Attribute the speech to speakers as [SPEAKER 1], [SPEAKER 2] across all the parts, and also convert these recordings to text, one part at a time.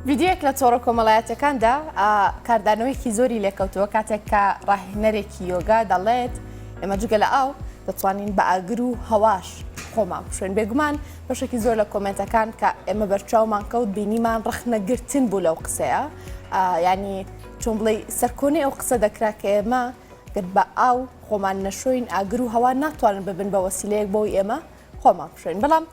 [SPEAKER 1] ویدیوێک لە تۆڕە کۆمەڵایەتەکاندا کاردانەوەیکی زۆری لێکەوتووە کاتێک کە ڕاهێنەرێکی یۆگا دەڵێت ئێمە جگە لە ئاو دەتوانین بە ئاگر و هەواش خۆمان بشوێن بێگومان بەشێکی زۆر لە کۆمنتەکان کە ئێمە بەرچاومان کەوت بینیمان ڕخنەگرتن بوو لەو قسەیە ینی چۆن بڵێ سەرکۆنی ئەو قسە دەکرا کە ئێمە گەت بە ئاو خۆمان نەشوین ئاگر و هەوا ناتوانن ببن بە وەسیلەیەک بۆی ئێمە خۆمان بشوێن بەڵام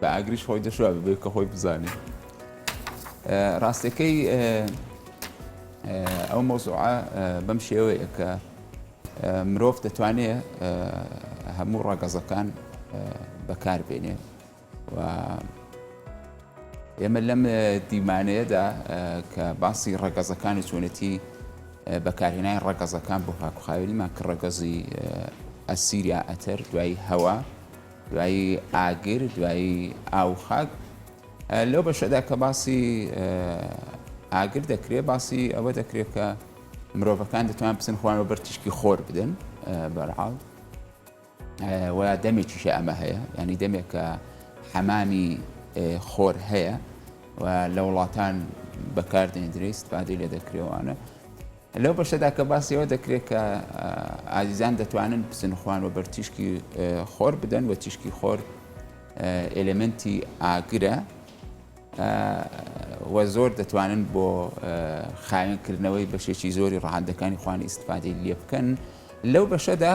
[SPEAKER 2] بە ئاگریش خۆی دەشوا ببێت کە خۆی بزانێت ڕاستەکەی ئەو مۆزوعە بەم شێوەیە کە مرۆڤ دەتوانێت هەموو ڕەگەزەکان بەکاربێنێ و ئێمە لەم دیمانەیەدا کە باسی ڕەگەزەکانی چۆنێتی بەکارهێنای ڕەگەزەکان بۆ هاکوخاوێنیمان کە ڕەگەزی ئەسیریا ئەتەر دوایی هەوا دوایی ئاگر، دوایی ئاو و خاک. لەو بەشەدا کە باسی ئاگر دەکرێت، باسی ئەوە دەکرێت کە مرۆڤەکان دەتوان بچن خۆیان بە بەر تیشکی خۆر بدەن بەرحاڵ و دەمێکیشە ئەمە هەیە ینی دەمێکە حەمامی خۆر هەیە و لە وڵاتان بەکاردێندرێ استفادەی لێ دەکرێوانە لەو بەشەدا کە باسی ئەوە دەکرێت کە ئازیزان دەتوانن بچن خوان و بەر تیشکی خۆر بدەن و تیشکی خۆر ئێلێمنتی ئاگرە و زۆر دەتوانن بۆ خاوێنکردنەوەی بەشێکی زۆری ڕەهەندەکانی خوانی ئیسفادەی لێ بکەن لەو بەشەدا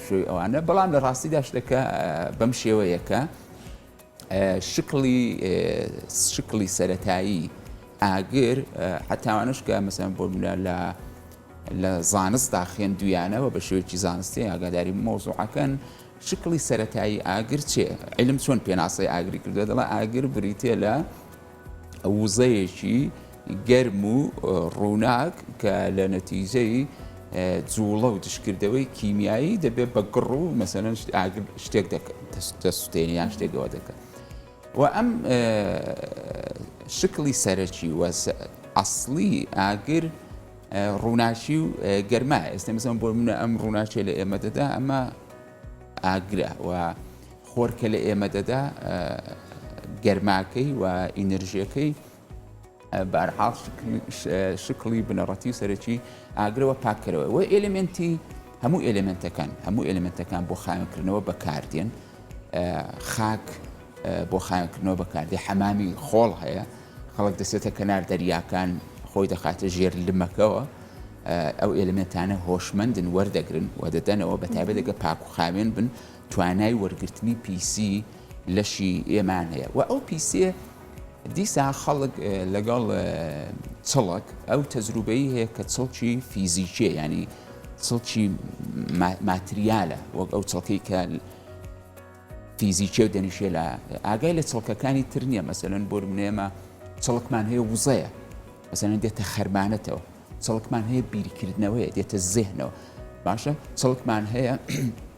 [SPEAKER 2] پشووی ئەوانە بەڵام لە ڕاستیدا شتەکە بەم شێوەیە کە شکڵی شکڵی سەتایی ئاگر حتاوانش کە مەسەن بۆ منە لە لە زانستدا خوێندویانەوە بە شێوەیەکی زانستی ئاگاداری مۆزوعەکەن شکڵی سەتایی ئاگر چێ علم چۆن پێناسەی ئاگری کردو دەڵە ئاگر بریتێ لە وزەیەکی گەرم و ڕووناک کە لە نەتیجەی جوڵە و دشکردەوەی کیمیایی دەبێت بە گڕ و مەسەەن شتێک دەسوتێنیان شتێکەوە دەکەن و ئەم شکلی سەرەکی و ئەسلی ئاگر ڕووناچی و گەرما ئێستا مەسەن بۆ منە ئەم ڕووناچێ لە ئێمە دەدا ئەمە ئاگرە و خۆرکە لە ئێمە دەدا گەرماکەی و ئینرژیەکەی. بەرحاڵ شکڵی بنەڕەتی و سەرەکی ئاگرەوە پاککەرەوە وە ئێلمنتی هەموو ئێلمنتەکان هەموو ئێلمنتەکان بۆ خاوێنکردنەوە بەکاردێن خاک بۆ خاوێنکردنەوە بەکاردێ حەمامی خۆڵ هەیە خەڵک دەسێتە کەنار دەریاکان خۆی دەخاتە ژێر لمەکەوە ئەو ئێلمنتانە هۆشمەندن وەردەگرن و دەدەنەوە بەتابێت دەگە پاک و خاوێن بن توانای وەرگرتنی پیسی لەشی ئێمان هەیە و ئەو پیسیە دیسا خەڵک لەگەڵ چڵک ئەو تەزروبەی هەیە کە چڵکی فیزیکیە ینی چڵکی ماتریالە وەک ئەو چڵکەی کە فیزیکیە و دەنیشێ لە ئاگای لە چڵکەکانی تر نییە مەسەن بۆ منێمە چڵکمان هەیە وزەیە مەسەن دێتە خەرمانەتەوە چڵکمان هەیە بیرکردنەوەیە دێتە زێهنەوە باشە چڵکمان هەیە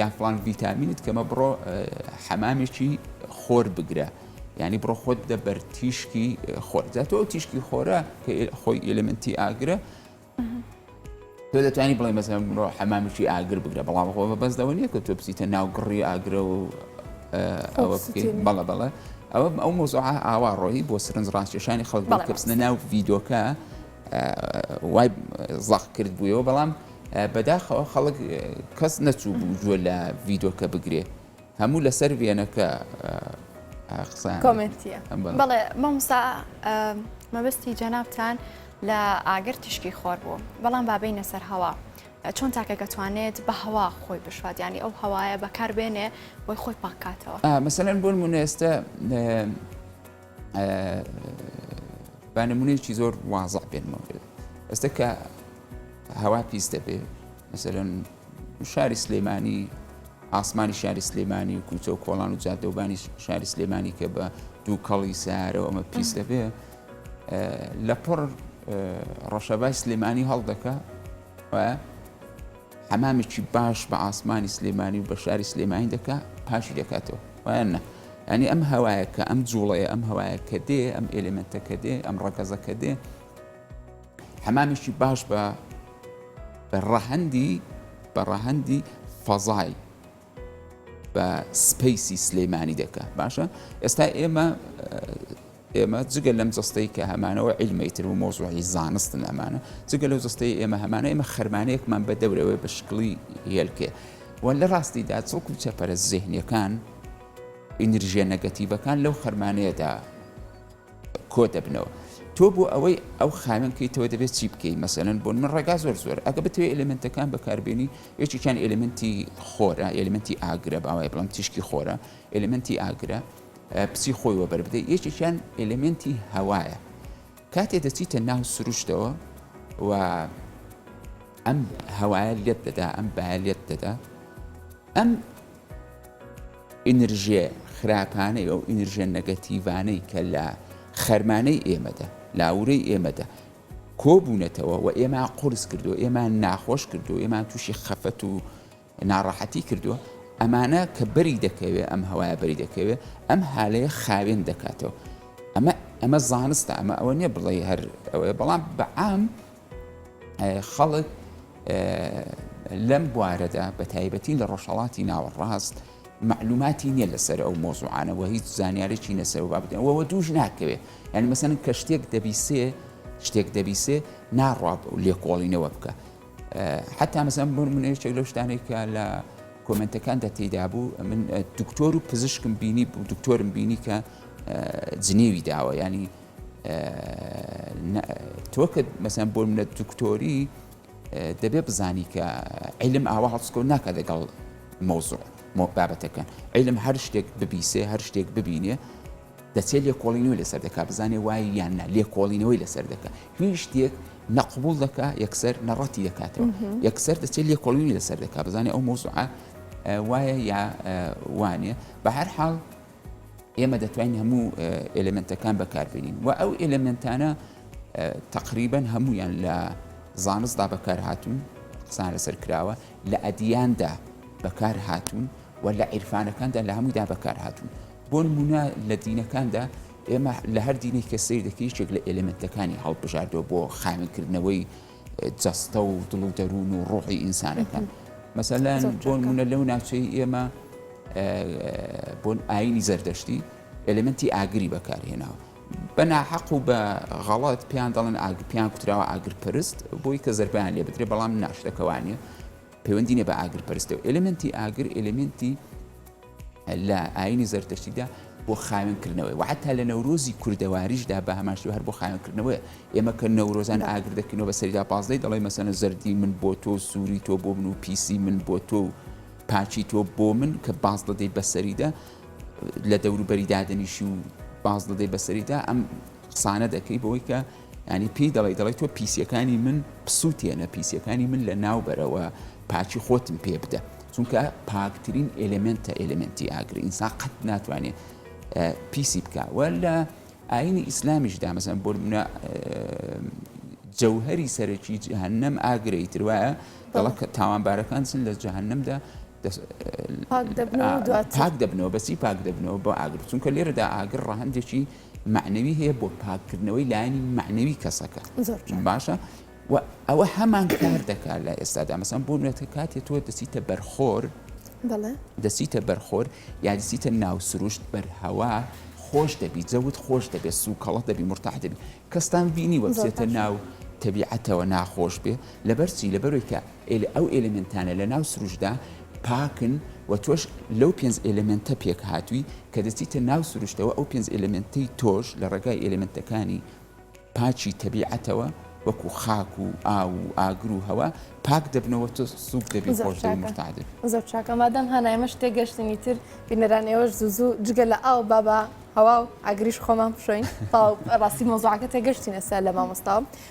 [SPEAKER 2] یان فڵان ڤیتامینت کەمە بڕۆ حەمامێکی خۆر بگرە ینی بڕۆ خۆت دە بەر تیشکی خۆردا تۆ تیشکی خۆرە کە خۆی ئلمنتی ئاگرە تۆ دەتوانانی بڵێ مەزە بڕۆ حەمامێکی ئاگر بگرە بەڵام خۆ بەسدەوە نیە کە تۆ بچیتە ناو گڕی ئاگرە و ئەوە بەڵە بەڵە ئەوە ئەو مۆزۆع ئاوا ڕۆیی بۆ سرنج ڕاستێشانی خەڵک کەپسنە ناو ڤیدۆکە وای زەق کرد بووەوە بەڵام بەداخەوە خەڵک کەس نەچوو بوو گوێ لە ڤیدۆکە بگرێ هەموو لەسەر وێنەکە قسە
[SPEAKER 1] کۆمنتە بەڵێ مامسا
[SPEAKER 3] مەبستی جەنابان لە ئاگر تیشکی خۆر بوو بەڵام بابی نەسەر هەوا چۆن تاکە دەتوانێت بە هەوا خۆی بشوات ینی ئەو هەوایە بەکاربێنێ بۆی خۆی پاکاتەوە مەسەن بۆن
[SPEAKER 2] منێستە با نمونەیەکی زۆر وازع بێنمەوە پێت ئێستا کە هەوا پیس دەبێ مەسەرەن شاری سلێمانی ئاسمانی شاری سلێمانی و کوچە و کۆڵان و جادەوبانی شاری سلێمانی کە بە دوو کەڵی سارەوە ئەمە پیس دەبێ لە پڕ ڕەشەبای سلێمانی هەڵدەکە و حەمامێکی باش بە ئاسمانی سلێمانی و بە شاری سلێمانی دەکا پاکی دەکاتەوە وایان نا ینی ئەم هەوایە کە ئەم جوڵەیە ئەم هەوایە کە دێ ئەم ئێلێمنتە کە دێ ئەم ڕەگەزە کە دێ حەمامێکی باش بە بە ڕەهەندی بە ڕەهەندی فەزای بە سپەیسی سلیمانی دەکا باشە ئێستا ئێمە ئێمە جگە لەم جستەی کە هەمانەوە عیلمەی تر و مۆزوعی زانستن ئەمانە جگە لەو جستەی ئێمە هەمانە ئێمە خەرمانەیەکمان بە دەورەوە بە شکڵی هێلکێ و لە ڕاستیدا چڵک و چەپەرە زێهنیەکان ئینرژە نەگەتیڤەکان لەو خەرمانەیەدا کۆ دەبنەوە تۆ بۆ ئەوەی ئەو خانە بکەیتەوە دەبێت چی بکەیت مەسەن بۆن من ڕێگا زۆر زۆر ئەگە بتوێت ئەلمنتەکان بەکاربیێنی یەکێکیان ئەلمنتی خۆرە ئەلمنتی ئاگرە باوای بڵم تیشکی خۆرە ئەلمنتی ئاگرە پچی خۆی وەبەر بدەیت یەکێکیان ئەلمنتی هەوایە کاتێ دەچیتە ناو سروشتەوە و ئەم هەوایە لێت دەدا ئەم باە لێت دەدا ئەم ئینرژیە خراپانەی، ئەو ئینرژیە نەگەتیڤانەی کە لە خەرمانەی ئێمەدا، لە ئاوورەی ئێمەدا کۆبوونەتەوە و ئێمان قورس کردووە، ئێمان ناخۆش کردووە، ئێمان تووشی خەفەت و ناڕەحەتی کردووە، ئەمانە کە بەری دەکەوێ، ئەم هەوایە بەری دەکەوێ، ئەم هالەیە خاوێن دەکاتەوە. ئەمە ئەمە زانستە، ئەمە ئەوە نیە بڵێی هەر ئەوەیە، بەڵام بە عام خەڵک لەم بوارەدا بە تایبەتی لە ڕۆژهەڵاتی ناوەڕاست معلوماتی نییە لەسەر ئەو مۆزوعانەوە هیچ زانیارێکی نەسەر و بابەتەوەەوە دووش ناکەوێت یعنی مەسەن کە شتێک دەبیسێ شتێک دەبیسێ ناڕاب و لێکۆڵینەوە بکە حتا مەسەم بۆ منێشێک لە شتانێکە لە کۆمنتەکان دەتیدا بوو من دکتۆر و پزیشکم بینی دکتۆرم بینی کە جنێوی داوە ینی تۆ کە مەسەن بۆ منە دکتۆری دەبێ بزانی کە عیلم ئاوا هەڵسکۆ ناکە لەگەڵ مۆزۆ بابەتەکە عیلم هەر شتێک ببیسێ هەر شتێک ببینێ دەچێت لێکۆڵینەوە لەسەر دەکە بزانێ وای یان نە لێکۆڵینەوەی لەسەر دەکە هیچ شتێک نەقبول دەکە یەکسەر نەڕەتی دەکاتەوە یەکسەر دەچێت لێکۆڵینی لەسەر دەکە بزانێ ئەو مۆزوعە وایە یا وانە بە هەر حاڵ ئێمە دەتوانین هەموو ئێلێمنتەکان بەکاربێنین و ئەو ئێلێمنتانە تقریبن هەمویان لە زانستدا بەکار هاتوون قسان لەسەر کراوە لە ئەدیاندا بەکار هاتوون و لە عیرفانەکاندا لە هەموودا بەکار هاتوون بۆ نمونە لە دینەکاندا ئێمە لە هەر دینێک کە سیر دەکەیشێک لە ئێلێمنتەکانی هەڵبژاردەوە بۆ خاوێنکردنەوەی جەستە و دڵ و دەروون و ڕۆحی ئینسانەکان مەسەلەن بۆ نموونە لەو ناوچەی ئێمە بۆن ئاینی زەردەشتی ئەلمنتی ئاگری بەکارهێناوە بەناحەق و بە غەڵەت پێیان دەڵێن ئاگ پێیان کوتراوە ئاگر پرست بۆی کە زربیان لێ بدرێ بەڵام ناشتەکەوانە پەیوەندی نە بە ئاگر پرستەوە ئەلمنتی ئاگر ئەلمنتی لە ئایینی زەردەشتیدا بۆ خاوێن کردنەوەی و حتا لە نەورۆزی کوردەواریشدا بە هەمان شێوە هەر بۆ خاوێن کردنەوەیە ئێمە کە نەورۆزان ئاگر دەکەینەوە بە سەریدا پازدەی دەڵێ مەسەنە زەردی من بۆ تۆ سووری تۆ بۆ من و پیسی من بۆ تۆ و پاچی تۆ بۆ من کە باز دەدەی بەسەریدا لە دەوروبەری دادەنیشی و باز دەدەی بەسەریدا ئەم قسانە دەکەی بەوەی کە یانی پێی دەڵێی دەڵێی تۆ پیسیەکانی من بسوتێنە پیسیەکانی من لە ناو بەرەوە پاچی خۆتم پێ بدە چونکە پاکترین ئلمنتە ئلمنتی ئاگر ئینسان قەت ناتوانێت پیسی بکوە لە ئاینی ئیسلامیش دامەزن بۆ منە جەوهری سەرەکی جهنم ئاگرەی تروایە دەڵە تاوانبارەکان سن لە جهنمدا پاک دەبنەوە بەسی پاک دەبنەوە بۆ ئاگر چونکە لێرەدا ئاگر ڕەهندێکی مەعنەوی هەیە بۆ پاککردنەوەی لایەنی مەعنەوی کەسەکە باشە و ئەوە هەمان کار دەکات لە ئێستادا مەسان بۆ نوێتە کاتێ تۆ دەسیتە بەرخۆر دەسیتە بەرخۆر یادسیتە ناو سروشت بەرهەوا خۆش دەبی جەوت خۆش دەبێت سو کەڵە دەبی مرتاح دەبی کەستان بینی وەسێتە ناو تەبیعەتەوە ناخۆش بێ لەبەرچی لەبەرۆی کە ئەو ئێلێمێنتانە لە ناو سروشتدا پاکن و تۆش لەو پێنج ئێلێمێنتە پێکهاتووی کە دەچیتە ناو سروشتەوە، ئەو پێنج ئێلێمێنتەی تۆش لە ڕێگای ئێلێمێنتەکانی پاکی تەبیعەتەوە وەکوو خاک و ئاو و ئاگر و هەوا پاک دەبنەوە تۆ سووک دەبی و خۆش دەبی مورتاح دەبی. زۆر چاکە مادام هانا
[SPEAKER 1] ئێمەش تێگەشتین ئیتر بینەران ئێوەش زوو زوو جگە لە ئاو با بە هەوا و ئاگریش خۆمان بشۆین تەواو ڕاستی مەوزوعەکە تێگەشتین ئێستا لە مامۆستاوە.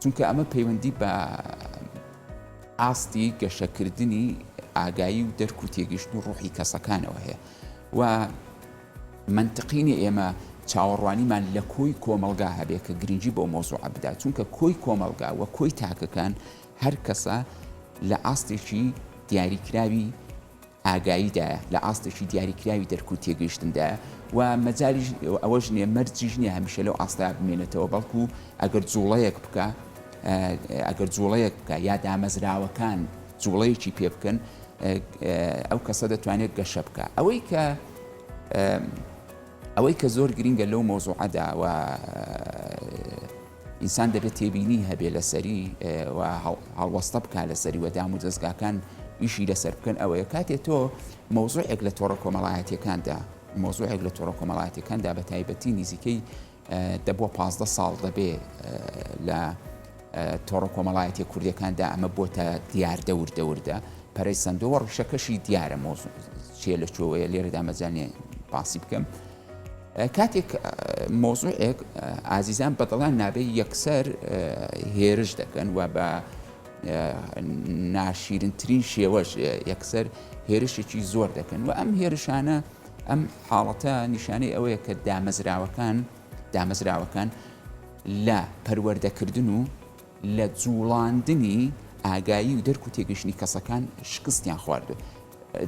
[SPEAKER 2] چونکە ئەمە پەیوەندی بە ئاستی گەشەکردنی ئاگایی و دەرک و تێگەشت و ڕوحی کەسەکانەوە هەیە و منتقینە ئێمە چاوەڕوانیمان لە کۆی کۆمەلگا هەبێ کە گرنگی بۆ مۆزوع بدات چونکە کۆی کۆمەلگا و کۆی تاکەکان هەر کەسە لە ئاستێکی دیاریکراوی ئاگاییدایە، لە ئاستێکی دیاریکراوی دەرک و تێگەیشتندایە و مەجالیش ئەوەش نییە، مەرجیش نییە هەمیشە لەو ئاستەدا بمێنێتەوە، بەڵکو ئەگەر جووڵەیەک بکا، ئەگەر جووڵەیەک بکا یا دامەزراوەکان جووڵەیەکی پێ بکەن، ئەو کەسە دەتوانێت گەشە بکا. ئەوەی کە ئەوەی کە زۆر گرینگە لەو مەوزووعەدا و ئینسان دەبێت تێبینی هەبێت لەسەری و هەڵوەستە بکات لەسەری و دام و دەستگاکان ئیشی لەسەر بکەن ئەوەیە کاتێ تۆ مۆزوعێک لە تۆڕە کۆمەڵایەتەکاندا مۆزوعێک لە تۆڕە کۆمەڵاتەکاندا بە تایبەتی نزیکەی دەبووە پ ساڵ دەبێ لە تۆڕە کۆمەڵایەتی کوردەکاندا ئەمە بۆتە دیاردە وردەوردە پەرەی سندۆوە ڕیشەکەشی دیارە مۆزوع چێ لە چۆوەیە لێرەدا مەزانێ باسی بکەم کاتێک مەوزوعێک ئازیزان بەدڵیان نابێت یەکسەر هێرش دەکەن و بە ناشیرنترین شێوەش یەکسەر هێرشێکی زۆر دەکەن و ئەم هێرشانە ئەم حاڵەتە نیشانەی ئەوەیە کە دامەزراوەکان دامەزراوەکان لە پەروەردەکردن و لە جوڵاندنی ئاگایی و دەرک و تێگەشتنی کەسەکان شکستیان خواردو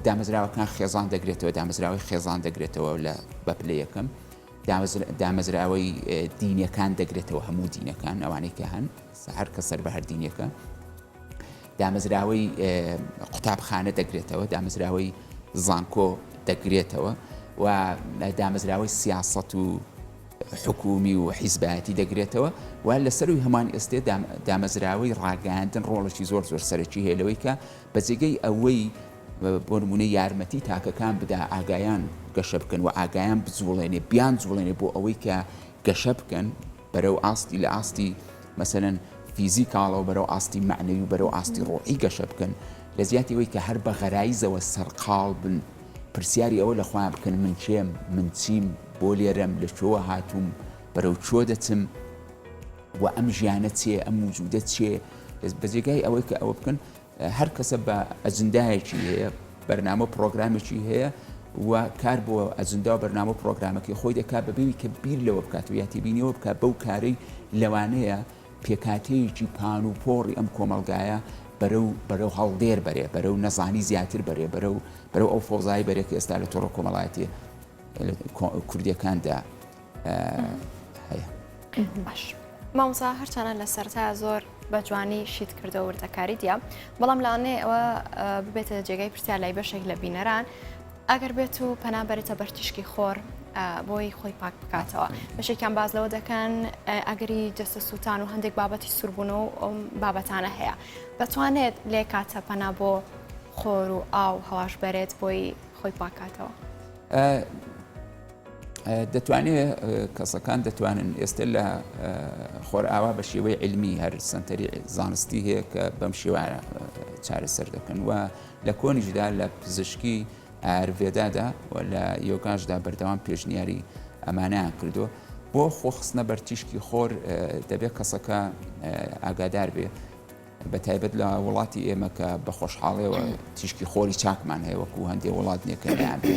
[SPEAKER 2] دامەزراوەکان خێزان دەگرێتەوە، دامەزراوەی خێزان دەگرێتەوە لە بە پلە یەکەم، دامەزراوەی دینەکان دەگرێتەوە هەموو دینەکان ئەوانەی کە هەن هەر کە سەر بە هەر دینەکە دامەزراوەی قوتابخانە دەگرێتەوە دامەزراوەی زانکۆ دەگرێتەوە و دامەزراوەی سیاست و حکومی و حیزبایەتی دەگرێتەوە و لەسەروی هەمان ئێستێ دامەزراوەی ڕاگەاندن ڕۆڵێکی زۆر زۆر سەرەکی هەیە لەوەی کە بە جێگەی ئەوەی بۆ نموونە یارمەتی تاکەکان بدا ئاگایان گەشە بکەن و ئاگایان بجوڵێنێ بیان جوڵێنێ بۆ ئەوەی کە گەشە بکەن بەرەو ئاستی لە ئاستی مەسەن فیزی کاڵەوە بەرەو ئاستی معنەوی و بەرەو ئاستی ڕۆحی گەشە بکەن لە جیاتی وەی کە هەر بە غەرایزەوە سەرقاڵ بن پرسیاری ئەوە لە خۆیان بکەن من کێم من چیم بۆ لێرەم لە چۆوە هاتووم بەرەو چۆ دەچم و ئەم ژیانە چێ ئەم وجودە چێ بە جێگای ئەوەی کە ئەوە بکەن هەر کەسە بە ئەجندایەکی هەیە بەرنامە پرۆگرامێکی هەیە و کار بۆ ئەجندا و بەرنامە پرۆگرامەکەی خۆی دەکات بەبیوی کە بیر لەوە بکات و یاتی بینیەوە بکات بەو کارەی لەوانەیە پێکاتەیەکی پان و پۆڕی ئەم کۆمەلگایە بەرەو بەرەو هەڵدێر بەرێ بەرەو نەزانی زیاتر بەرێ بەرەو بەرەو ئەو فۆزای بەرێک ئێستا لە تۆڕە کۆمەڵایەتی کوردیەکاندا هەیە
[SPEAKER 3] باش مامزا هەرچانە لە سەرتا زۆر بە جوانی شیت کردە وردەکاری دیە بەڵام لاانێ ئەوە ببێتە جێگای پرسیار لای بەشێک لە بینەران ئەگەر بێت و پەنا بەرێتە بەرتیشکی خۆر بۆی خۆی پاک بکاتەوە بەشێکیان باز لەوە دەکەن ئەگەری جەستە سووتان و هەندێک بابەتی سوربوون و ئەم بابەتانە هەیە دەتوانێت لێ کاتە پەنا بۆ خۆر و ئاو هەواش بەرێت بۆی خۆی پاکاتەوە.
[SPEAKER 2] دەتوانێت کەسەکان دەتوانن ئێستە لە خۆرئاوا بە شێوەی علمی هەر سنتەری زانستی هەیە کە بەم شێوە چارەسەر دەکەن و لە کۆنیشدا لە پزیشکی ئارڤێدادا و لە یۆگاشدا بەردەوام پێشنیاری ئەمانەیان کردو بۆ خۆخستنە بەرتیشکی خۆر دەبێت کەسەکە ئاگادار بێ بە تایبەت لە وڵاتی ئێمە کە بە خۆشحاڵەوە تیشکی خۆری چاکمان هەیە وەکو هەندێک وڵات نێکەیان بێ.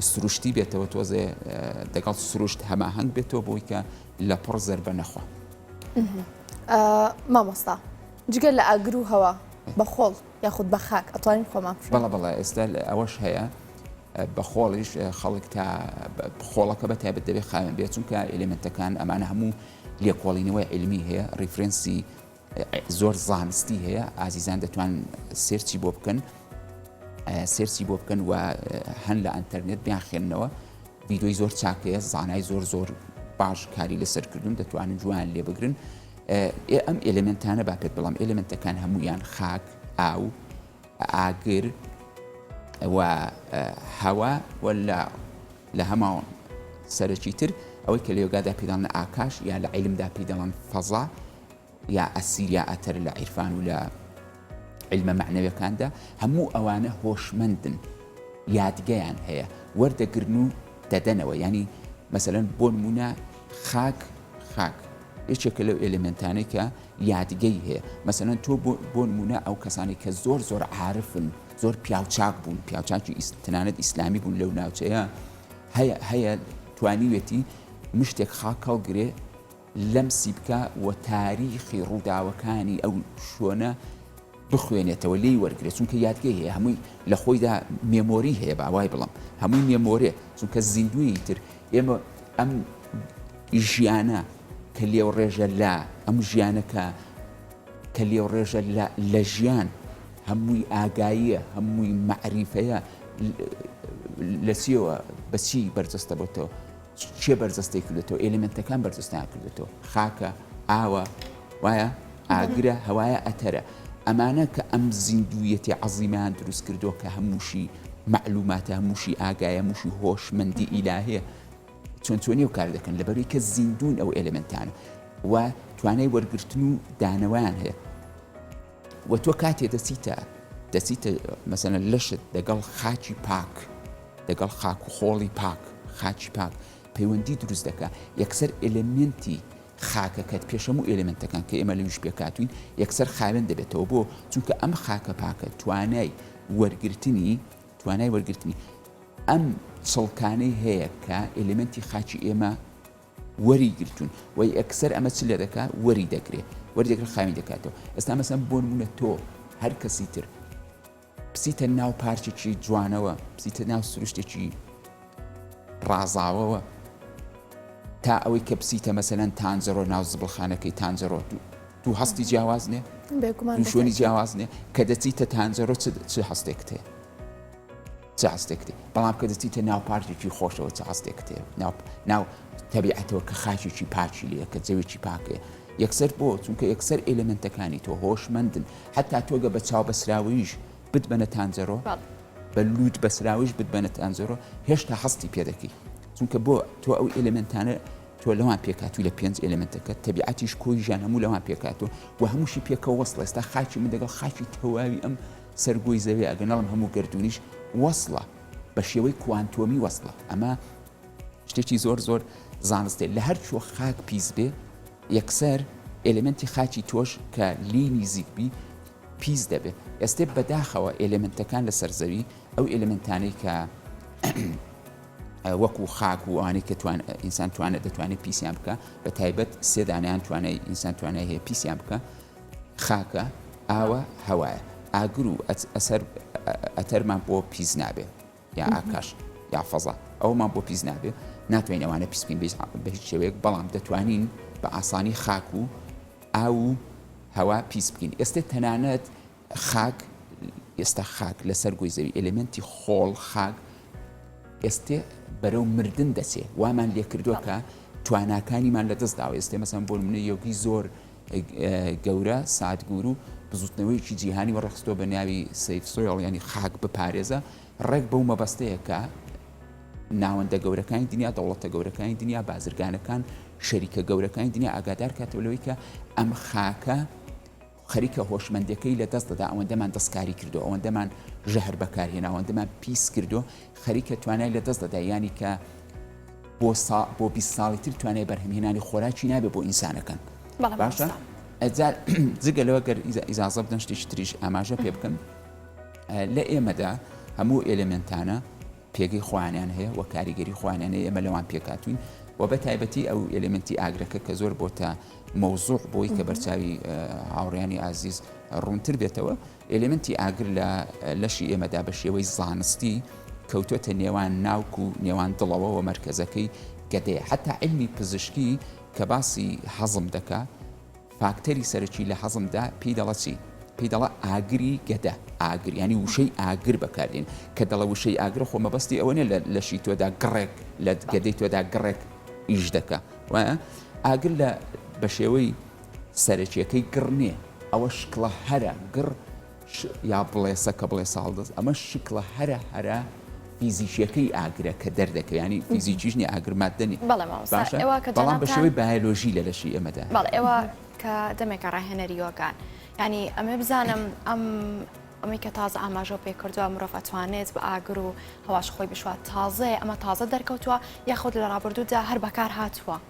[SPEAKER 2] سروشتی بێتەوە تۆزێ دەگەڵ سروشت هەماهنگ بێتەوە بۆی کە لە پڕ زربە نەخوا
[SPEAKER 1] مامۆستا جگە لە ئاگر و هەوا بە خۆڵ یاخود بە خاک ئەتوانین خۆمان بەڵە بەڵە ئێستا
[SPEAKER 2] ئەوەش هەیە بە خۆڵیش خەڵک تا خۆڵەکە بە تایبەت دەبێت خاوێن بێت چونکە ئەلیمنتەکان ئەمانە هەموو لێکۆڵینەوەی علمی هەیە ریفرەنسی زۆر زانستی هەیە ئازیزان دەتوان سێرچی بۆ بکەن سێرچی بۆ بکەن و هەن لە ئەتەرنێت بیان خوێندنەوە ویدۆی زۆر چاکەیە زانای زۆر زۆر باش کاری لەسەر کردوون دەتوانن جوان لێ بگرن ئەم ئلمنتانە با پێت بڵام ئلمنتەکان هەمویان خاک ئاو ئاگر و هەوا ولا لە هەما سەرەکی تر ئەوەی کە لێگادا پیداڵن ئاکاش یا لە عیلمدا پیداڵن فەزا یا ئەسیر یا ئەتەر لە عیرفان و لە عیلمە مەعنەویەکاندا، هەموو ئەوانە هۆشمەندن یادگەیان هەیە وەردەگرن و دەدەنەوە یانی مەسەلەن بۆ نموونە خاک خاک یەکێکە لەو ئێلێمێنتانەی کە یادگەی هەیە مەسەلەن تۆ بۆ نموونە ئەو کەسانی کە زۆر زۆر عارفن زۆر پیاوچاک بوون پیاوچاکی تەنانەت ئیسلامی بوون لەو ناوچەیە هەیە هەیە توانیوێتی مشتێک خاک هەڵگرێ لەمسی بکا و تاریخی ڕووداوەکانی ئەو شوێنە بخوێنێتەوە لێی وەرگێ چونکە یادگەی هەیە هەمووی لە خۆیدا مێمۆری هەیە باوای بڵم هەمووی مێمۆرێ چونکە زیندوی تر ئێمە ئەم ژیانە کە لێو ڕێژە لە ئەم ژیانەکە کە لێو ڕێژە لە ژیان هەمووی ئاگاییە هەمووی مەعریفەیە لە چیەوە بەچی بەرجەستە بۆتەوە چیە بەرجەستەی کردۆتەوە ئێلێمێنتەکان بەرجەستەیان کردۆتەوە خاکە ئاوە وایە ئاگرە هەوایە ئەتەرە ئەمانە کە ئەم زیندوویەتی عەزیمیان دروست کردووە کە هەمووشی معلوماتە هەمووشی ئاگایە موشی هۆشمەندی ئیلاهەیە چۆن چۆنی و کار دەکەن لەبەروی کە زیندون ئەو ئێلمنتانە و توانای وەرگرتن و دانەوەیان هەیە وە تۆ کاتێ دەچیتە دەچیتە مەسەلەن لەشت دەگەڵ خاکی پاک دەگەڵ خاک و خۆڵی پاک خاکی پاک پەیوەندی دروست دەکا یەکسەر ئێلێمێنتی خاکەکەت پێش هەموو ئێلێمێنتەکان کە ئێمە لەویش پێکهاتووین یەکسەر خاوێن دەبێتەوە بۆ چونکە ئەم خاکە پاکە توانای وەرگرتنی توانای وەرگرتنی ئەم چڵکانەی هەیە کە ئێلێمێنتی خاکی ئێمە وەری گرتوون وە یەکسەر ئەمە چ لێ دەکا وەری دەگرێ وەری دەگرێ خاوی دەکاتەوە ئێستا مەسەن بۆ نمونە تۆ هەر کەسی تر بچیتە ناو پارکێکی جوانەوە بچیتە ناو سروشتێکی ڕازاوەوە تا ئەوەی کە بچیتە مەسەەن تانجەڕۆ ناو زبڵخانەکەی تانجەڕۆ دوو دوو هەستی جیاواز نێ بێگومان دوو شوێنی دووشۆنی جیاواز نێ کە دەچیتە تانجەڕۆ چ چ هەستێکت هەیە چ هەستێک کتێ بەڵام کە دەچیتە ناو پارکێکی خۆشەوە چ هەستێک کتێ ناو ناو تەبیعەتەوە کە خاکێکی پاکی لێ کە جەوێکی پاکێ یەکسەر بۆ چونکە یەکسەر ئێلمنتەکانی تۆ هۆشمەندن حتا تۆگە بە چاو بەسراوەیش بتبەنە تانجەرۆ بە لووت بەسراویش بتبەنە تانجەرۆ هێشتا هەستی پێ دەکەی چونکە بۆ تۆ ئەو ئێلمنتانە تۆ لەوان پێکاتوی لە پێنج ئێلمنتەکە تەبیعەتیش کۆی ژان هەموو لەوان پێکاتوە و هەمووشی پێکە وەست ئێستا خاکی من دەگەڵ خاکی تەواوی ئەم سەر گۆی زەوێ ئەگە نەڵم هەموو گەردوونیش وەسڵە بە شێوەی کوانتۆمی وەسڵە ئەمە شتێکی زۆر زۆر زانستێ لە هەر کوێ خاک پیس بێ یەکسەر ئێلێمنتی خاکی تۆش کە لێی نیزیک بی پیس دەبێ ئێستێ بەداخەوە ئێلێمنتەکان لە سەرزەوی ئەو ئێلێمنتانەی کە وەکو خاک و ئەوانەی کە توان ئینسان توانە دەتوانێت پیسیان بکە بە تایبەت سێدانیان توانای ئینسان توانای هەیە پیسیان بکە خاکە، ئاوە، هەوایە، ئاگر و ئەسەر ئەتەرمان بۆ پیس نابێ یا ئاکاش یا فەزا ئەومان بۆ پیس نابێ ناتوانین ئەوانە پیسکەین بە هیچ شێوەیەک بەڵام دەتوانین بە ئاسانی خاک و ئاو و هەوا پیس بکەین ئێستا تەنانەت خاک، ئێستا خاک لەسەر گۆی زەوی، ئێلێمێنتی خۆڵ، خاک، ئێستێ بەرەو مردن دەچێ، وامان لێ کردووە کە تواناکانیمان لە دەست داوە، ئێستێ مەسەن بۆ نمونە یۆگی زۆر گەورە ساتگورو بزوتنەوەیەکی جیهانی و ڕخستۆ بە ناوی سیف سۆیڵ یانی خاک بپارێزە ڕێک بەو مەبەستەیە کە ناوەندە گەورەکانی دنیا دەوڵەتە گەورەکانی دنیا بازرگانەکان شەریکە گەورەکانی دنیا ئاگادار کاتەوە لەوەی کە ئەم خاکە خەریکە هۆشمەندیەکەی لە دەست دەدا ئەوەندەمان دەستکاری کردوە ئەوەندەمان ژەهر بەکار هێنا ئەوەندەمان پیس کردوە خەریکە توانای لە دەست دەدا یانی کە بۆ سا بۆ 20 ساڵی تر توانای بەرهەمهێنانی خۆراکی نابێ بۆ ئینسانەکان بەڵێ باشە مامۆستا ئەجا جگە لەوە گەر ئیزا- ئیزازە بدەن شتێکی تریش ئاماژە پێ بکەم ئە، لە ئێمەدا هەموو ئێلێمنتانە پێگەی خۆیانیان هەیە و کاریگەری خۆیانیان هەیە ئێمە لەوان پێکهاتووین و بە تایبەتی ئەو ئێلێمنتی ئاگرەکە کە زۆر بۆتە مەوزوع بۆی کە بەرچاوی هاوڕیانی ئازیز ڕوونتر بێتەوە ئێلێمنتی ئاگر لە لەشی ئێمەدا بە شێوەی زانستی کەوتۆتە نێوان ناوک و نێوان دڵەوە و مەرکەزەکەی گەدەیە حتا علمی پزیشکی کە باسی هەزم دەکا فاکتەری سەرەکی لە هەزمدا پێی دەڵە چی؟ پێی دەڵە ئاگری گەدە، ئاگر یانی وشەی ئاگر بەکاردێنی، کە دەڵە وشەی ئاگر خۆ مەبەستی ئەوە نیە لە لەشی تۆدا گڕێک لە گەدەی تۆدا گڕێک ئیش دەکا وایە؟ ئاگر لە بەشێوەی سەرەکیەکەی گڕ نیە ئەوە شکڵە هەرە گڕ ش یا بڵێسە کە بڵێسە هەڵدەست ئەمە شکڵە هەرە هەرە فیزیکیەکەی ئاگرە کە دەردەکە ینی فیزیکیش نیە ئاگر ماددە نیە بەڵێ مامۆستا باشە ئێوە کە بەڵام بە جەنابتان شێوەی بایۆلۆژی لە لەشی ئێمەدا بەڵێ هەیە ئێوە کە
[SPEAKER 3] دەمێکە ڕاهێنەری یۆگان یعنی ئەمێ بزانم ئەم ئەمەی کە تازە ئاماژەو پێ کردووە مرۆڤ ئەتوانێت بە ئاگر و هەواش خۆی بشوات تازەیە ئەمە تازە دەرکەوتووە یاخود لە ڕابردوودا هەر بەکار هاتووە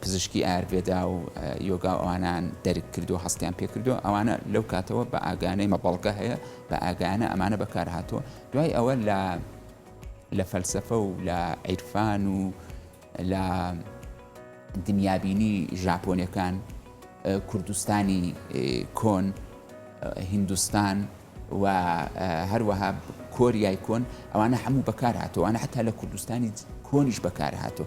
[SPEAKER 2] پزیشکی ئایارڤێدا و یۆگا و ئەوانەیان دەرک کردووە هەستیان پێ کردووە ئەوانە لەو کاتەوە بە ئاگانەی مە بەڵگە هەیە بە ئاگایانە ئەمانە بەکار هاتووە دوای ئەوە لە لە فەلسفە و لە عیرفان و لە دنیابینی ژاپۆنەکان کوردستانی کۆن هندستان و هەروەها کۆریای کۆن ئەوانە هەموو بەکار هاتووانە حتا لە کوردستانی کۆنیش بەکار هاتوو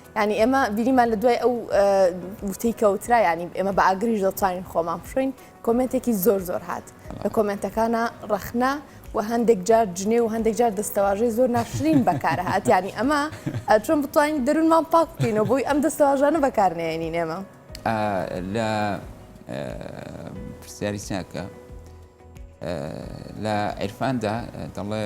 [SPEAKER 1] یانی ئێمە بینیمان لە دوای ئەو وتەی کەوترا ینی ئێمە بە ئاگریش دەتوانین خۆمان بشوین کۆمنتێکی زۆر زۆر هات لە کۆمنتەکانە ڕەخنا و هەندێک جار جنێ و هەندێک جار دەستەواژەی زۆر ناشرین بەکار هااتیانی ئەمە چۆن بتوانین دەروونمان پاکینەوە بۆی ئەم دەستەواژانە بەکارنێنین ئێمە لە
[SPEAKER 2] پرسیاری ساکە لە عرفاندا دەڵێ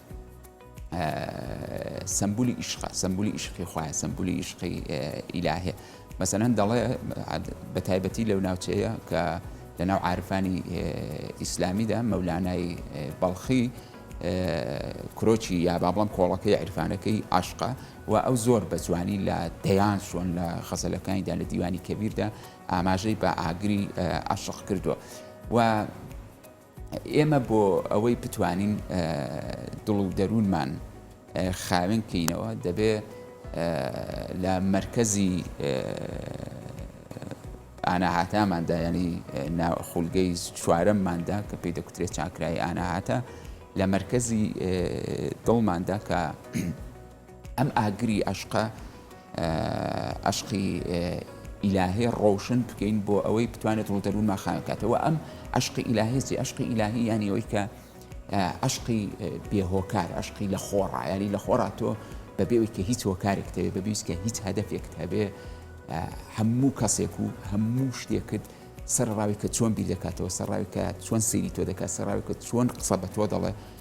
[SPEAKER 2] سەمبولی ئیشقە سەمبولی ئیشقی خوایە سەمبولی ئیشقی ئیلاهێ مەسەەن دەڵێ بە تایبەتی لەو ناوچەیە کە لە ناو عرفانی ئیسلامیدا مەولانای بەڵخی کرۆچی یا بابڵم کۆڵەکەی عیرفانەکەی عاشقا و ئەو زۆر بە جوانی لە دەیان چۆن لە خەزەلەکانیدا لە دیوانی کەبیردا ئاماژەی بە ئاگری عاشق کردووە و ئێمە بۆ ئەوەی بتوانین دڵ و دەروونمان خاوێن بکەینەوە دەبێ لە مەرکەزی ئاناهاتاماندا ینی خولگەی چوارەمماندا کە پێی دەکوترێت چاکرای ئاناهاتە لە مەرکەزی دڵماندا کە ئەم ئاگری ئەشقە ئەشقی ئیلاهی ڕۆشن بکەین بۆ ئەوەی بتوانێت ڕوو دەروونمان خاوێن کاتەوە ئەم ئەشقی ئیلاهیسی ئەشقی ئیلاهی یانی ئەوەی کە ئەشقی بێهۆکار ئەشقی لە خۆڕا یاری لە خۆڕا تۆ بەبێەوەی کە هیچ هۆکارێک تەوێت بەبیست کە هیچ هەدەفێکت هەبێ هەموو کەسێک و هەموو شتێکت سەرڕاوی کە چۆن بیر دەکاتەوە سەرڕاوی کە چۆن سری تۆ دەکات سەرڕاوی کە چۆن قسە بە تۆ دەڵێ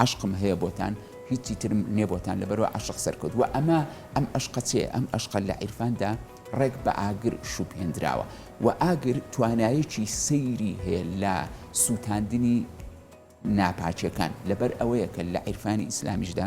[SPEAKER 2] عەشقم هەیە بۆتان هیچی ترم نیە بۆتان لەبەروا عەشق سەرکەوت وە ئەمە ئەم عەشقە چێ ئەم عەشقە لە عیرفاندا ڕێک بە ئاگر شوبهێندراوە وە ئاگر توانایەکی سەیری هەیە لە سوتاندنی ناپاکیەکان لەبەر ئەوەیە کە لە عیرفانی ئیسلامیشدا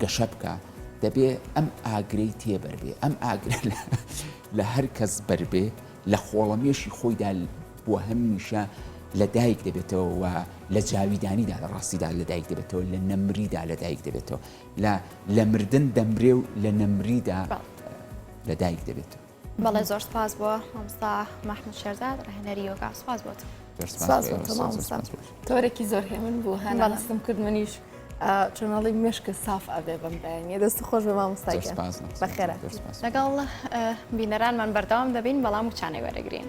[SPEAKER 2] گەشە بکا دەبێ ئەم ئاگرەی تێبەر بێ ئەم ئاگرە لە هەر کەس بەر بێ لە خۆڵەمێشی خۆیدا بۆ هەمیشە لە دایک دەبێتەوە و لە جاویدانیدا لە ڕاستیدا لە دایک دەبێتەوە لە نەمریدا لە دایک دەبێتەوە لە لە مردن دەمرێ و لە نەمریدا لە دایک دەبێتەوە بەڵێ زۆر سپاس
[SPEAKER 3] بۆ مامۆستا مەحمود شێرزاد ڕاهێنەری یۆگا سپاس بۆت سپاس بۆ تۆ مامۆستا
[SPEAKER 1] تۆرێکی زۆر هێمن بوو هەنا هەستم کرد منیش چۆناڵی مشکە ساف ئەبێ بم بەیانە دەست خۆش بە مامۆستای بەخێرە
[SPEAKER 3] لەگەڵ بینەرانمان بەردەوام دەبین
[SPEAKER 1] بەڵام
[SPEAKER 3] وچانەی وەرەگرین.